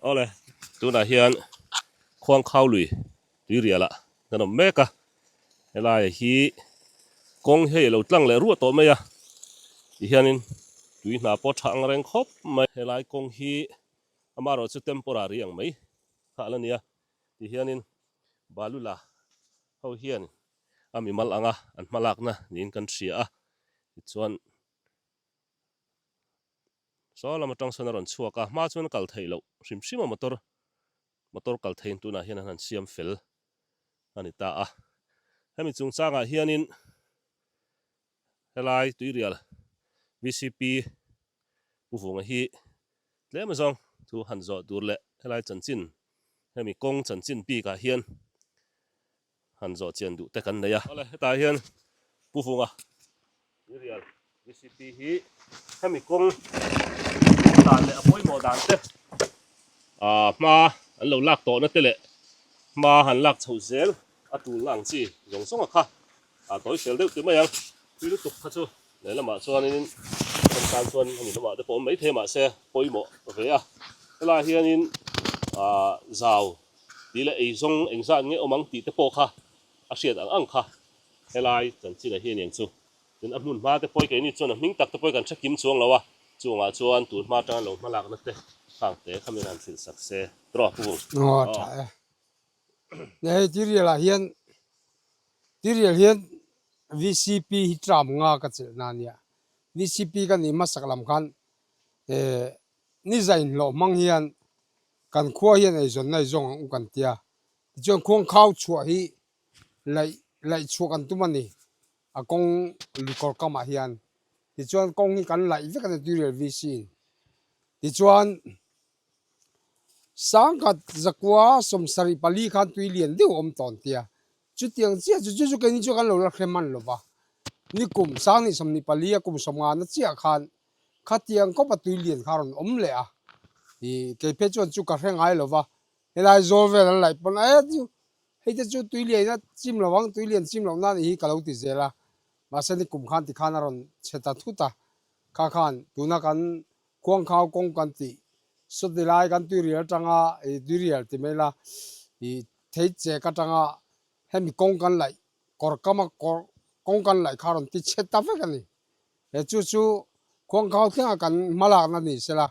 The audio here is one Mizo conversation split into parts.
Awle, tunah hian Khuangkhau lui tuirialah kan awm mek a, helaia hi kawng hi hei lo tlang leh ruah tawh mai a, tihianin tui hna pawh a tha ang reng khawp mai. Helai kawng hi amaherawh chu temporary ang mai kha a la nia, tihianin balu la ho hian a mimal anga an hmalakna niin kan hria a, tichuan Saw lam atang sawn a rawn chhuak a, hma chuan kal theih loh hrim hrim a motor motor kal thei in tunah hian an han siam fel a ni ta a. Hemi chungchangah hianin helai tuirial VCP pu vunga hi tlem azawng thu han zawh tur leh helai chanchin hemi kawng chanchin bikah hian han zawh chian duh te kan nei a. Awle hetah hian Pu Hunga Mirial recipe hi hemi kawng a dan leh a pawimawh dan te ah hma an lo lak tawh na te leh hma han lak chho zel a tulna ang chi zawng zawnga kha a tawi fel deuh te mai ang. Tui lutuk kha chu lehlamah chuanin hemi tan chuan hemi lamah te pawh awm maithei mahse pawimawh ve a. Helai hianin ah zau. tih leh ei zawng eng zan nge awm ang tih te pawh kha a hriat ang ang kha helai chanchinah hian eng chu. Tin a hmun hma te pawh keini chuan a hming tak te pawh kan hre kim chuang lo a, chungah chuan tun hma tanga lo hmalakna te kha ang te kha min han hrilh sak se tawh a Pukung. Aw a tha e, nia hei tirialah hian tirial hian VCP hi tram nga ka chelhna ania, VCP ka nih hmasak lam khan Ni zah inhlawh hmang hian kan khua hian eizawn nai zawng ang u kan tia, tichuan khuang khau chhuah hi laih laih chhuah kan tum a ni a kawng lu kawr kamah hian, tichuan kawng hi kan laih vek a ni tui rel vc in. Tichuan sang khat zakua sawm sarih pali khan tui lian deuh a awm tawn tia, chutiang chiah chu chu chu kei ni chu kan lo la hrem han lo va, ni kum sang ni sawm ni pali a kum sawm ngana chiah khan Khatiang kawpa tui lian kha rawn awm leh a, ih, keiphet chuan chu ka hre ngai lo va, helai zawl vel an laih pawn e chu, hei te chu tui lian ina chim lo ang, tui lian chim loh na a nih hi ka lo ti zel a, mahse ni kum khan ti khan a rawn chhe ta thut a, kha khan tuna kan khuangkhau kawng kan ti saw ti lai, kan tuirial atanga, ih, tuirial ti mai la, ih, thei chek atanga hemi kawng kan laih, kawr kama kawr kawng kan laih kha rawn ti chhe ta vek a ni, He chu chu kawngkhau thlengah kan hmalakna ni se la,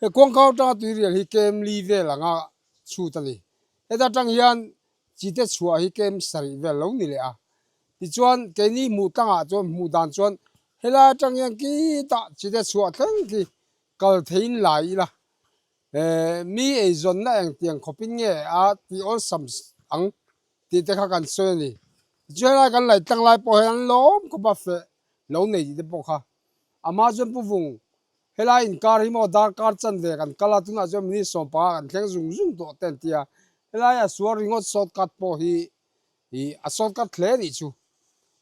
he kawngkhau tanga tuirial hi kem li vel anga chhut a ni. Heta tang hian chi te chhuah hi kem sarih vel lo ni leh a. Tichuan keini hmuh tlangah chuan hmuh dan chuan helai atang hian kitah chi te chhuah thleng khi kal theiin lai ila mi eizawnna engtiang khawpin nge a tih awlsam ang. tih te kha kan sawi a ni. Chu helai kan laih tlang lai pawh hian an la awm khawp a feh lo nei tih te pawh kha. Amah chuan pu Vung, helai inkar hi maw darkar chan ve kan kal a, tunah chuan minute sawm panga kan thleng zung zung tawh te an ti a. Helai a sual ringawt short cut pawh hi ih a short cut hle anih chu.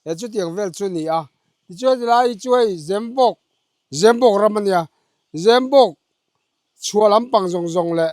He chutiang vel chu a ni a. Tichuan heti lai hi chu hei Zembawk, Zembawk ram a nia, Zembawk chhuah lampang zawng zawng leh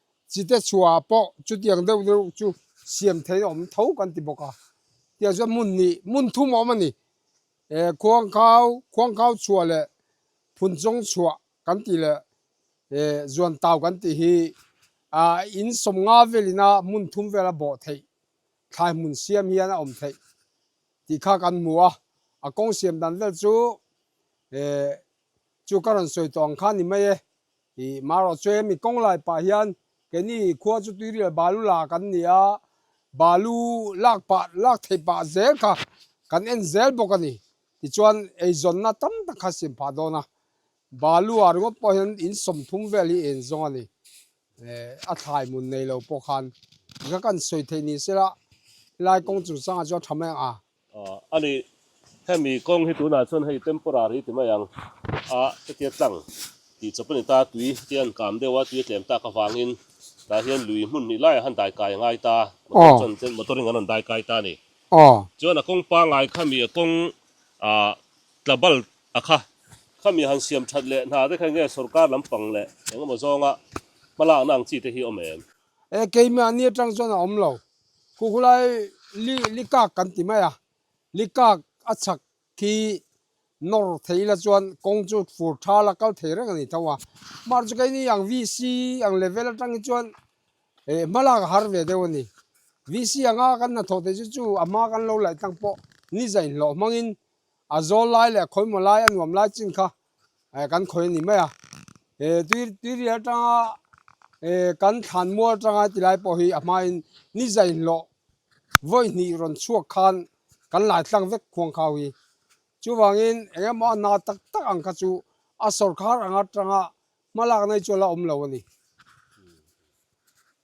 Chi te chhuah ah pawh chutiang deuh deuh chu siam theih awm tho kan ti bawk a, tiah chuan hmun ni hmun thum a awm a ni. Eh khuangkhau, khuangkhau chhuah leh phunchawng chhuah kan tih leh eh zuantau kan tih hi ah in sawmnga velin a hmun thum vel a bawh theih thlai hmun siam hian a awm theih tih kha kan hmu a, a kawng siam dan vel chu eh chu ka rawn sawi tawh ang kha ni mai e. Hi hmaruah chuan hemi kawnglai pah hian keini khua chu tuirial balu lak an ni a, balu lak pah lak thei pah zel kha kan en zel bawk a ni. Tichuan eizawnna tam tak kha siam phah dawn a, balu ah ringawt pawh hian in sawmthum vel hi en zawng a ni. Eh, a thlai mun nei lo pawh khan, in kha kan sawi thei ni sela, helai kawng chung changah chuan tha mai ang a. A ni. Hemi kawng hi tunah chuan hei temporary ti mai ang a, hetia tlang tih chawp a ni ta, tui te an kâm deuh a, tui a tlem tak avangin tah hian lui hmun hnih laiah han daikai a ngai ta, motor chuan chen motor in an rawn daikai ta a ni. Chuan a kawng pangai kha mi a kawng tla bal a kha kha mi han siam that leh hna te kha enge sorkar lampang leh engemaw zawnga hmalakna ang chi te hi awm em? Eh keimah a ni atang chuan a awm lo. Khu khulai li likak kan ti mai a, likak a chhak khi nawr thei ila chuan kawng chu fur tha la kal thei reng a ni tho a. Mahse chu kei ni ang VC ang level atang hi chuan eh hma lak a har ve deuh a ni. VC anga kan hnathawh theih chu chu a hma kan lo laih tlang pawh ni zai hlawh hmangin a zawl lai leh a khawimawh lai a nuam lai chin kha kan khawih a nih mai a he tui tuiriah atanga he kan thlan mual atanga ti lai pawh hi a hmain nizai hlawh vawi hnih rawn chhuak khan kan lai tlang vek huang kha hi chuvangin eng nge maw a na tak tak ang kha chu a sawrkar anga tanga hma lakna hi chu a la awm lo a ni.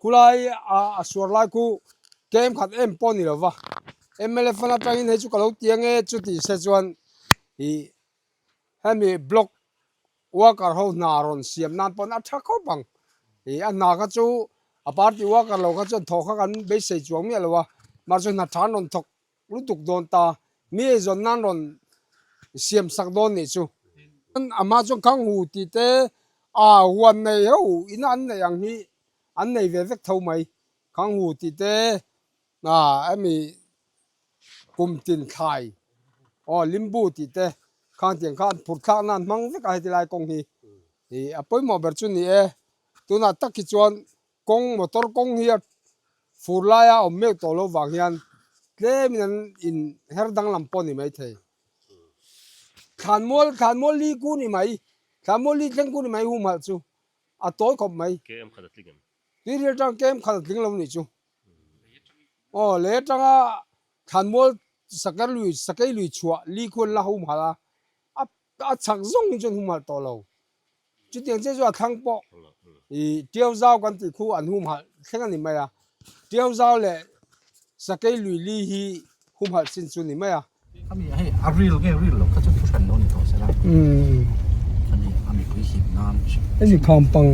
khulai ah a suar lai khu kem khat em pawh a ni lova mlf fan atang in hei chu ka lo ti ang e chu tih se chuan ih hemi block worker ho hna rawn siam nan pawn a tha khawp ang ih a hna kha chu a party worker lo kha chuan thaw kha kan beisei chuang miah lo a mahse hna than rawn thawk-- Lutuk dawn ta, mi ei zawn nan rawn siam sak dawn nih chu. Chuan amah chuan khang hu tih te aw huan nei heuh ina an neih ang hi an nei ve vek tho mai, khang hu tih te ah emi kum tin thlai aw limbu tih te khang tiang kha an phur thlak nan hmang vek a heti lai kawng hi, a pawimawh ber chu ni e, tunah tak hi chuan Kawng motor kawng hi a fur lai a awm meuh tawh loh vang hian tlem in an in her danglam pawh ni mai thei. Thlan mual thlan mual li ku ni mai, thlan mual li thleng ku ni mai humhalh chu a tawi khawp mai. Km khat a tling em? Tui hriat atang km khat a tling lo nih chu. Aw lei atang a thlan mual sakei lui chhuah li khuan la humhalh a. Ka a chhak zawng hi chuan hum halh tawh lo. Chutiang chiah chuan a thlang pawh i Tiau Zau kan tih khu an hum halh thleng a ni mai a. Tiau Zau leh Sakei Lui Li hi hum halh sin chu ni mai a. Ami hei a ril nge ril lo kha chu thuhran lo ni tawh se la. Ami a mipui hlim nan a hriat. Hemi kham pang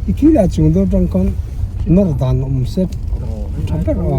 i khi leh a chung deuh tang khan nawr dan a awm se tha ber a.